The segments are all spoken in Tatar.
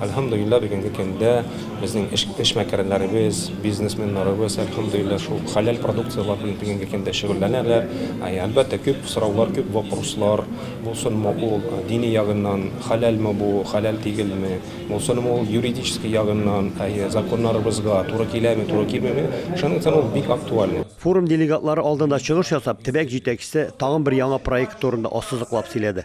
Әлхәмдулиллаһ, бүгенге көндә безнең эшмәкәрләребез, бизнесменнарыбыз, әлхәмдулиллаһ, шул хәләл продукцияләр белән бүгенге көндә шөгыльләнәләр. Әлбәттә, күп сораулар, күп вопрослар, булсынмы ул дини ягыннан, хәләлме бу, хәләл тигелме, булсынмы ул юридический ягыннан, законнарыбызга туры киләме, туры килмиме, шуның өчен ул бик актуальный. Форум делегатлары алдында чыгыш ясап, төбәк җитәкчесе тагын бер яңа проект турында ассызыклап сөйләде.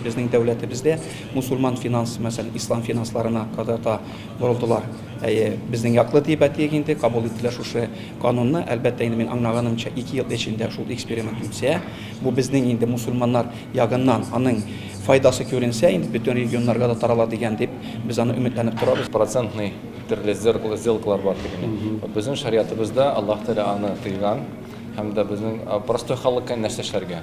Безнең дәүләтебездә мусульман финансы, мәсәлән, ислам финансларына кадәр дә борылдылар. Әйе, безнең яклы диеп әйтик инде, кабул иттеләр шушы канунны. Әлбәттә, инде мин аңлаганымча, ике ел эчендә шул эксперимент үтсә, бу безнең инде мусульманнар ягыннан аның файдасы күренсә, инде бөтен регионнарга да тарала дигән дип, без аны өметләнеп торабыз. Процентный төрле сделкалар бар ди генә. Вот безнең шариатыбызда Аллаһ Тәгалә аны тыйган һәм дә безнең простой халыкка нәрсә эшләргә?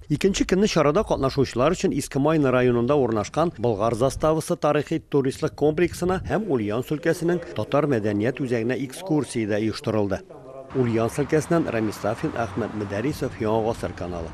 Икенче көнне чарада катнашучылар өчен Иске Майны районында урнашкан Болгар заставасы тарихи-туристлык комплексына һәм Ульяновск өлкәсенең татар мәдәният үзәгенә экскурсия дә оештырылды. Ульяновск өлкәсеннән Рамис Сафин, Әхмәт Мөдәрисов, Яңа гасыр каналы.